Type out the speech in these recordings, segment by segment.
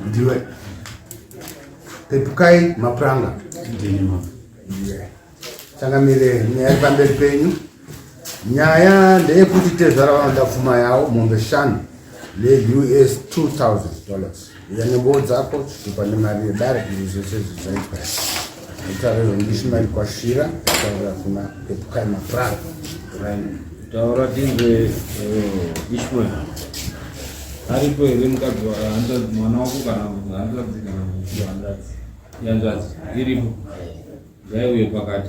ndiwe pepukai mapuranga changamire nyaya iri pamberi penyu nyaya ndeyekuti tezvara vanoda pfuma yawo mombe shanu neus 2000 dollars uya nembowo dzako zvipa nemari yedare izvi zvese zvizaitwa Mutauriri wemushumari kwaShira kutaura kuna Pepukai Maprara. Taura tinzwe eh, Ishmael. Aripo here mukadzi wahanzvadzi mwana wako kana hanzvadzi kana hanzvadzi yanzvadzi iripo ngaiuye pakati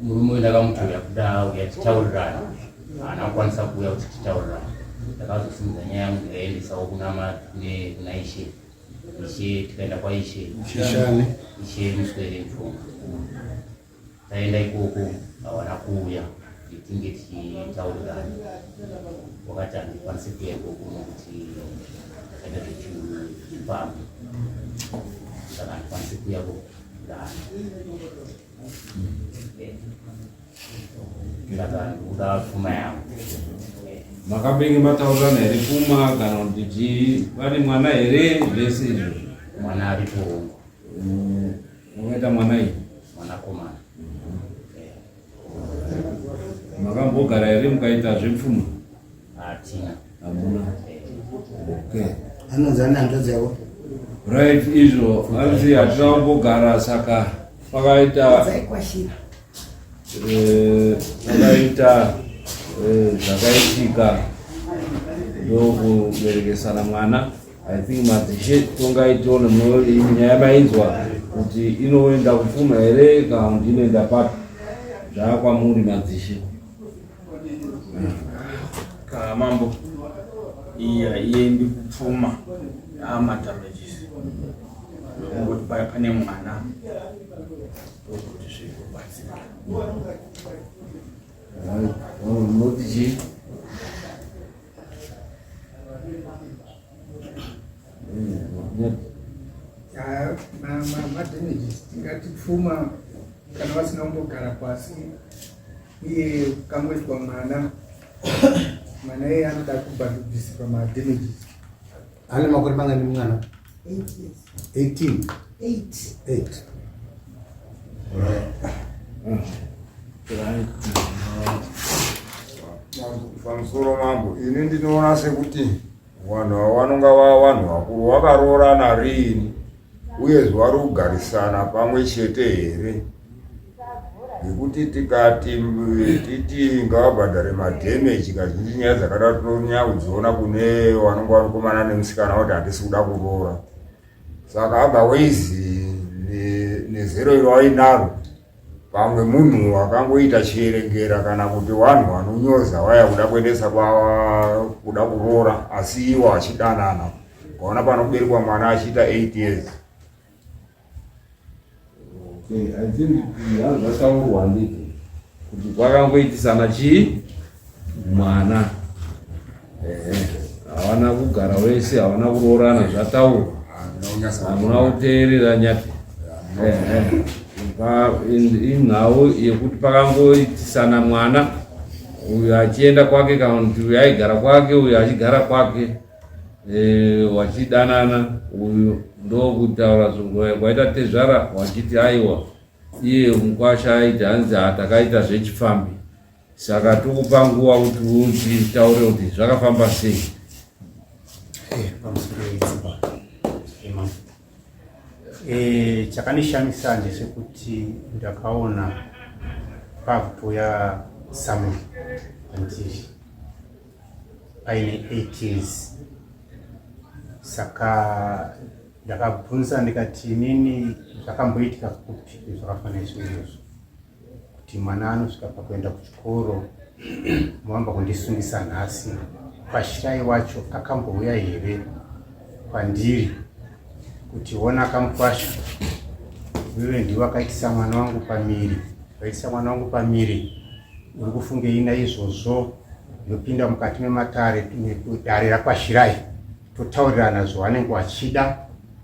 Murume uyu ndakamutora kuda auya tichitaurirana, haana kukwanisa kuuya kuti titaurirana. Ndakazosimudza nyaya yangu ndikaiendesawo kuna kuna Ishe, Ishe tikaenda kwaIshe Ishe muswere mfuma, taenda ikoko hawana kuuya tinge tichitaurirana wakati handikwanise kuya ikoko nokuti zvakaita zvechiupambi saka handikwanise kuya ko makabenge mataurirana here kuma kana kuti chii vane mwana here zvese izvo mwana aripo mm, unoita mwana iyi mwanakomana makambogara here mukaita zvepfuma hatina Hamuna. Okay. Anonzi ana hanzvadzi yavo. Right izvo hanzi hatina kumbogara saka pakaita eh, pakaita eh, zvakaitika ndokuberekesana mwana i think madzishe tongai tione nyaya mainzwa kuti inoenda kupfuma here kana kuti inoenda papi zvaakwamuri madzishe Ka mambo. Iya iye ndi kupfuma. Ama damages. Ngokuti paya pane mwana. Ngokuti zviko batsira. Ngokuti tingati pfuma kana vasina kumbogara pasi iye kamwezwa mwana mwana iye anoda kubhandubhisirwa madamages ane makore mangani mwana 18 8 pamusoro mambo ini ndinoona sekuti vanhu ava vanonga vava vanhu vakuru vakaroorana riini uyezve vari kugarisana pamwe chete here zvekuti tikati titi ngavabhadhare madhemeji kazhinji nyaya dzakadaro tinonyanya kudziona kune vanonga vanokomana nemusikana kuti handisi kuda kuroora saka otherwise nezero iro ainaro pamwe munhu akangoita chierengera kana kuti vanhu vanonyoza vaya kuda kuendesa kuda kuroora asi iwo achidanana ukaona panoberekwa mwana achiita eight years zvataurwa handiti kuti kwakangoitisana chii mwana havana kugara wese havana kuroorana zvataurwa hamuna kuteerera nyati inhau yekuti pakangoitisana mwana uyo achienda kwake kana kuti uyo aigara kwake uyo achigara kwake Eh, vachidanana uyu ndokutaura zvingurai kwaita tezvara vachiti aiwa iye mukwasha aiti hanzi hatakaita zvechifambi saka tokupa nguva kuti utitaure kuti zvakafamba sei eh, eh, chakanishamisa ndechekuti ndakaona pabhuya samuel andii aine 8 years saka ndakabvunza ndikati inini zvakamboitika kupi zvakafanira izvozvo kuti mwana anosvika pakuenda kuchikoro moamba kundisungisa nhasi kwashirai wacho akambouya here kwandiri kuti ona akamukwasha wewe ndiwe akaitisa mwana wangu pamiri akaitisa mwana wangu pamiri uri kufungei naizvozvo Ndopinda mukati mematare dare rakwashirai totaurirana zvavanenge vachida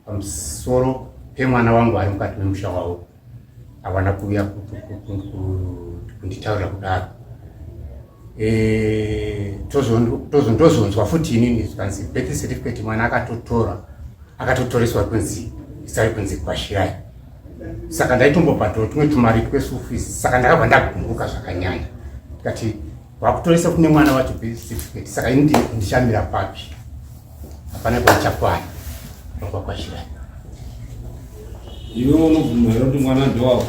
pamusoro pemwana wangu ari mukati memusha wavo havana kuuya kunditaurira kudaro eh, ndozonzwa futi inini zvikanzi birth certificate mwana akatotora akatotoreswa kunzi isari kunzi kwashirai saka ndaitombobhadhura tumwe tumari tweschool fees saka ndakabva ndagumburuka zvakanyanya tikati vakutoresa kune mwana wacho birth certificate saka ini ndichamira papi hapana kwaichakwana ndokuva kwashira iwe unobvuma here kuti mwana ndowako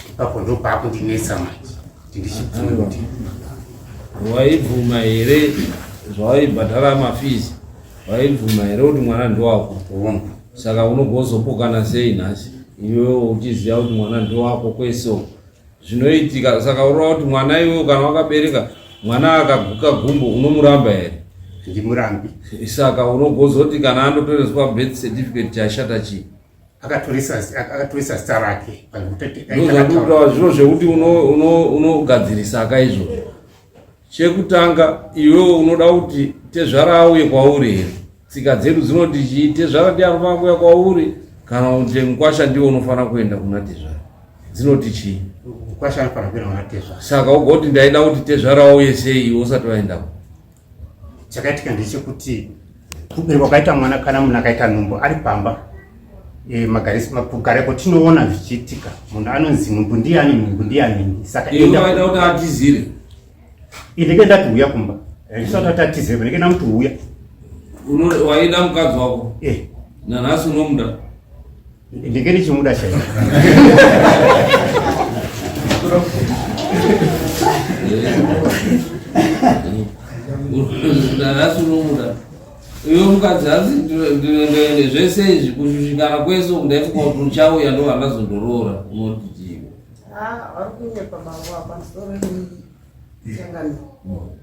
ipapo ndopakundinetsa manje kuti ndichibvumi kuti waibvuma here zvawaibhadhara mafizi waibvuma here kuti mwana ndowako saka unogozopokana sei nhasi iwewe uchiziva kuti mwana ndowako kweso zvinoitika saka urova kuti mwana iwewe kana wakabereka mwana akaguka gumbo unomuramba here ndimurambi saka unogozoti kana andotoreswa birth certificate chashata chii akatorisa zita rake ndozvakuitawa zviro zvekuti unogadzirisa uno, uno ka izvozvo chekutanga iwewo unoda kuti tezvara auye kwauri here tsika dzedu dzinoti chii tezvara ndi anofanira kuuya kwauri kana kuti mukwasha ndiwo unofanira kuenda kuna tezvara dzinoti chii saka ugoti ndaida kuti tezvara auye sei iwe usati vaendako chakaitika ndechekuti kuberwa kwaita mwana kana munhu akaita nhumbu ari pamba e, kugara kwatinoona zvichiitika munhu anonzi nhumbu ndiyani nhumbu ndiyani saka atizire ndenge ndati huya kumba ndisati ati atizire ndenge ndamuti huya waida mukadzi wako eh. nanhasi unomuda ndinge ndichimuda chai ndanhasi unomuda iwe mukadzi hanzi ndinoendaende zvese izvi kushushikana kwese uku ndaifuka kuti uchauya ndo vandazondoroora unotitii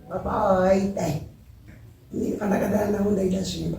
baba ava vaidai pandakadana ndaida zvimba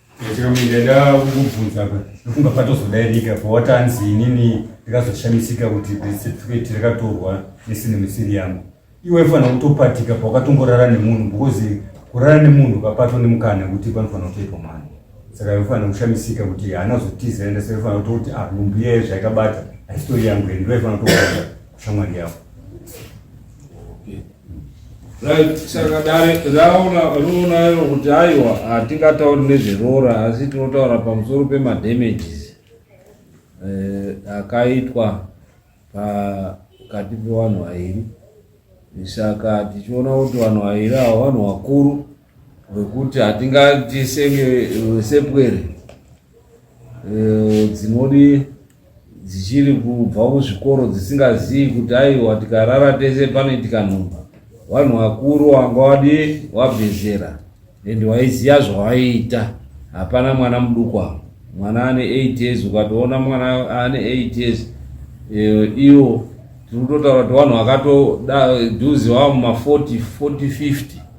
ndaida kukubvunza ndofunga patozodairika pawatanzi inini ndikazoshamisika kuti birth certificate rakatorwa nesine misiri yangu iwe fana kutopatika pawakatongorara nemunhu because kurara nemunhu ukapato nemukana kuti panofanira kutoitwa mwana saka ifanira kushamisika kuti haana kuzotiza enda saka ifanira kutoti ah nhumbu iyaye zvaikabata haisitori yangu ende ndoifanira kutoaa kushamwari yavo Right, saka dare raona roona iro kuti aiwa hatingatauri nezveroora asi tinotaura pamusoro pemadamages eh, akaitwa pakati pevanhu vairi saka tichiona kuti vanhu vairi avo vanhu vakuru vekuti hatingati senge sepwere Eh, dzinodi dzichiri kubva kuzvikoro dzisingazivi kuti aiwa tikarara tese panoitika nhumba vanhu vakuru wanga wadi wabvezera and waiziva zvawaiita hapana mwana muduku avo mwana ane 8 years ukatoona mwana ane 8 years eh, iwo tiri kutotaura kuti vanhu vakatoda dhuzi wava muma 40 40 50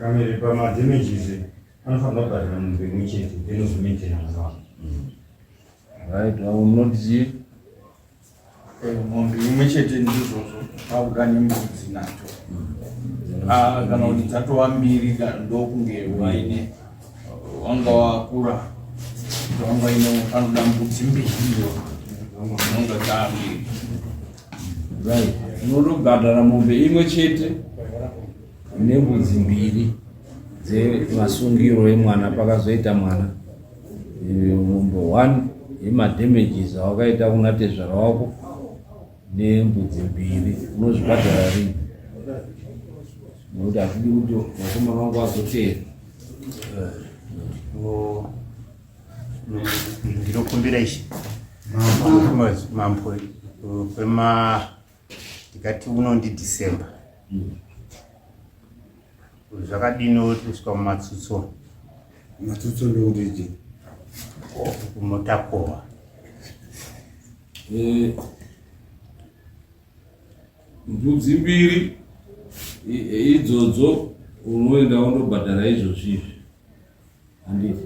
Kamere pama damages anofanira kubhadhara munhu pemwe chete then ozomaintaina mwana wako. Right, I will not see. mombe imwe chete ndizvozvo akuda nembudzi nacho Ah, kana kuti dzatova mbiri kana ndokunge waine wanga wakura kuti wanga ine anoda mbudzi mbiri iyo dzinonga dzambiri unotobhadhara mombe imwe chete nembudzi mbiri dzemasungiro emwana pakazoita mwana mombe one yemadamages awakaita kuna tezvara wako nembudzi mbiri unozvibhadhara rini nokuti hatidi kuti vakomana vangu vazoteera ndinokumbira ichi mambo kwema ndikati uno ndi december mm. zvakadini kusvika mumatsutso matsutso ndokutiti kumotakohwa eh, mbudzi mbiri idzodzo unoenda undobhadhara izvozvizvi handiti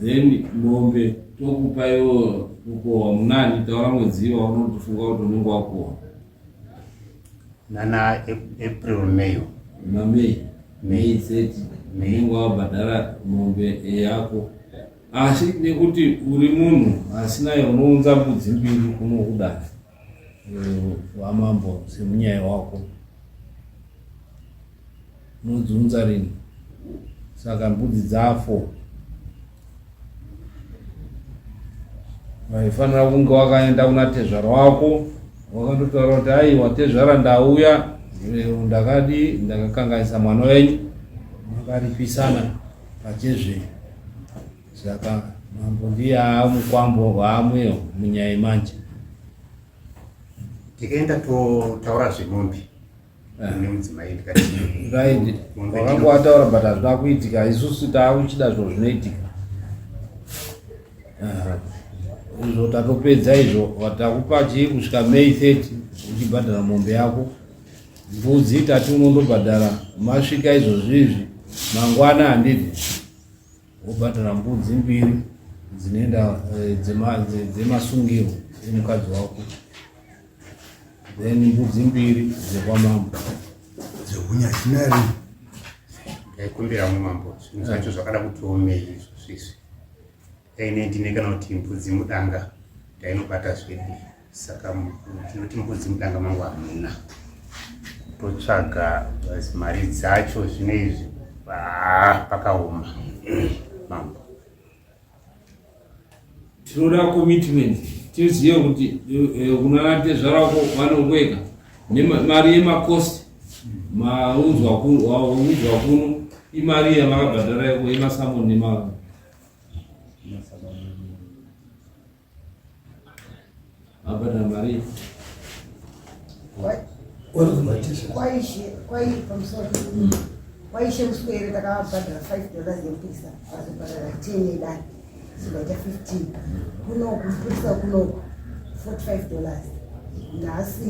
then mombe tokupa iwo kukohwa munani taura mwedzi waunotofunga kuti unenge wakohwa nana april may mamay may thirty unenge wabhadhara mombe yako asi nekuti uri munhu asina unounza mbudzi mbiri kuno kudai wamambo semunyaya wako unodziunza rini saka mbudzi dzafo waifanira kunge wakaenda kuna tezvara wako wakandotaura kuti aiwa tezvara ndauya lero ndakadi ndakakanganisa mwana wenyu makaripisana pachezvenyu Saka mambo ndiye amukwambo hwaamweyo munyaya yemanje. Tikaenda totaura zvemombe eh. nemudzimai ndikati wakanga wataura but hazvina kuitika isusu taakuchida zvo zvinoitika eh. izvo tatopedza izvo takupa chii kusvika may 30 uchibhadhara mombe yako mbudzi tati unondobhadhara masvika izvozvizvi mangwana handidi wobhadhara mbudzi mbiri dzinoenda eh, dzemasungiro dzemukadzi wako then mbudzi mbiri dzekwamambo dzekunyachinari ndaikumbira mwe mambo zvinhu zvacho zvakada kutiomei izvo zvizvi daine ndine kana kuti mbudzi mudanga ndainobata zvedi saka tinoti mbudzi mudanga mangu hamuna totsvaga mari dzacho zvino izvi pakaoma mambo tinoda commitment tizive kuti eh, kunanatezvara ko vanongweka nemari yemakosti maunzwa kuno imari yavakabhadhara yemasamoni nemaro Abana Maria. kwaishe muswere takabhadhara five dollars yekupisa azobhadhara ten yedani zikaita fifteen kunoku kupisa kunoku forty five dollars nhasi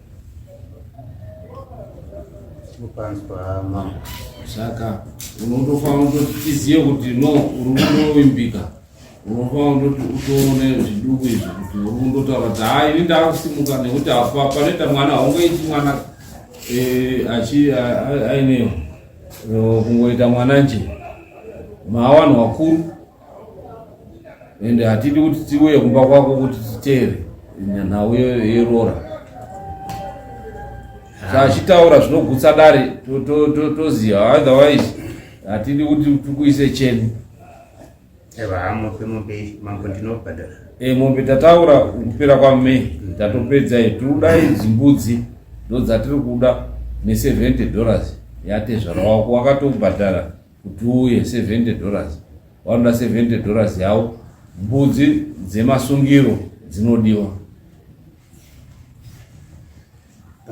saka unotofanira kutoti tizive kuti no uri kundovimbika unofanira kutoti utoone zviduku izvi kuti uri kundotaura kuti haa ini ndakusimuka nekuti apa panoita mwana haungoiti mwana eh, achi aine eh, kungoita mwana nje maawanhu wakuru ende hatidi kuti tiuye kumba kwako kuti titere nhau yeroora saachitaura zvinogutsa dare toziva otherwise hatidi kuti tikuise cheni eh, mombe tataura kupera kwamay mm. tatopedza todai dzimbudzi ndodzatiri kuda ne 70 dollars yatezvara wako wakatobhadhara kuti uye 70 dollars vanoda 70 dollars yavo mbudzi dzemasungiro dzinodiwa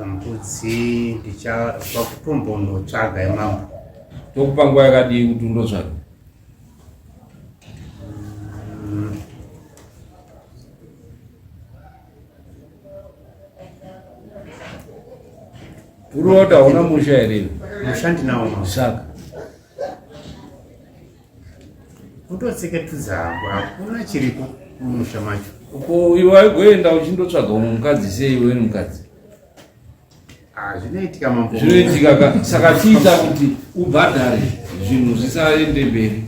mbudzi ndichakutombonotsvaga yemambo tokupa nguva yakadii kuti undotsvaga Unoda hauna musha here? Musha ndinawo. Saka utotsika tudza hako hakuna chiripo mumusha macho. Uko iwe waigoenda uchindotsvaga umwe mukadzi sei iwe ni mukadzi? Ah, zvinoitika mambo. Zvinoitika ka saka tiita kuti ubhadhare zvinhu zvisaende mberi.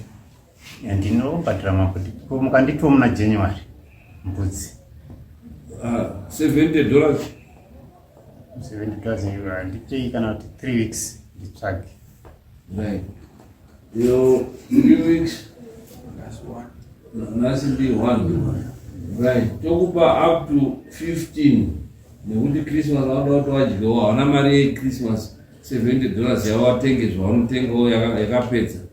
ndinobhadhira makuti mukanditiwo muna january mbudzi ah, seventy dollars seventy dollars handipei kana kuti three weeks nditsvage right yo three weeks nhasi ndi one right tokupa up to fifteen nekuti christmas vanoda kuti wadyiwa hauna mari yechristmas seventy dollars yawatenge zvaunotengawo yakapedza yaka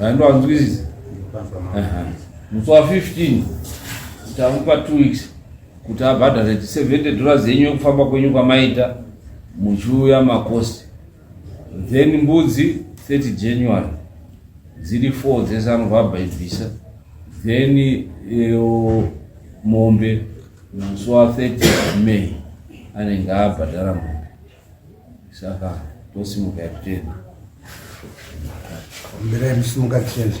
andoanzwisisa musi wa 15 tamupa two weeks kuti abhadhare 70 dollars yenyu yekufamba kwenyu kwamaita muchiuya makosti then mbudzi 30 january dziri 4 dzese anobva abhaibvisa then eh, mombe musi wa 30 may anenge abhadhara mombe Saka tosimuka tiende. Mira msimuka tiende.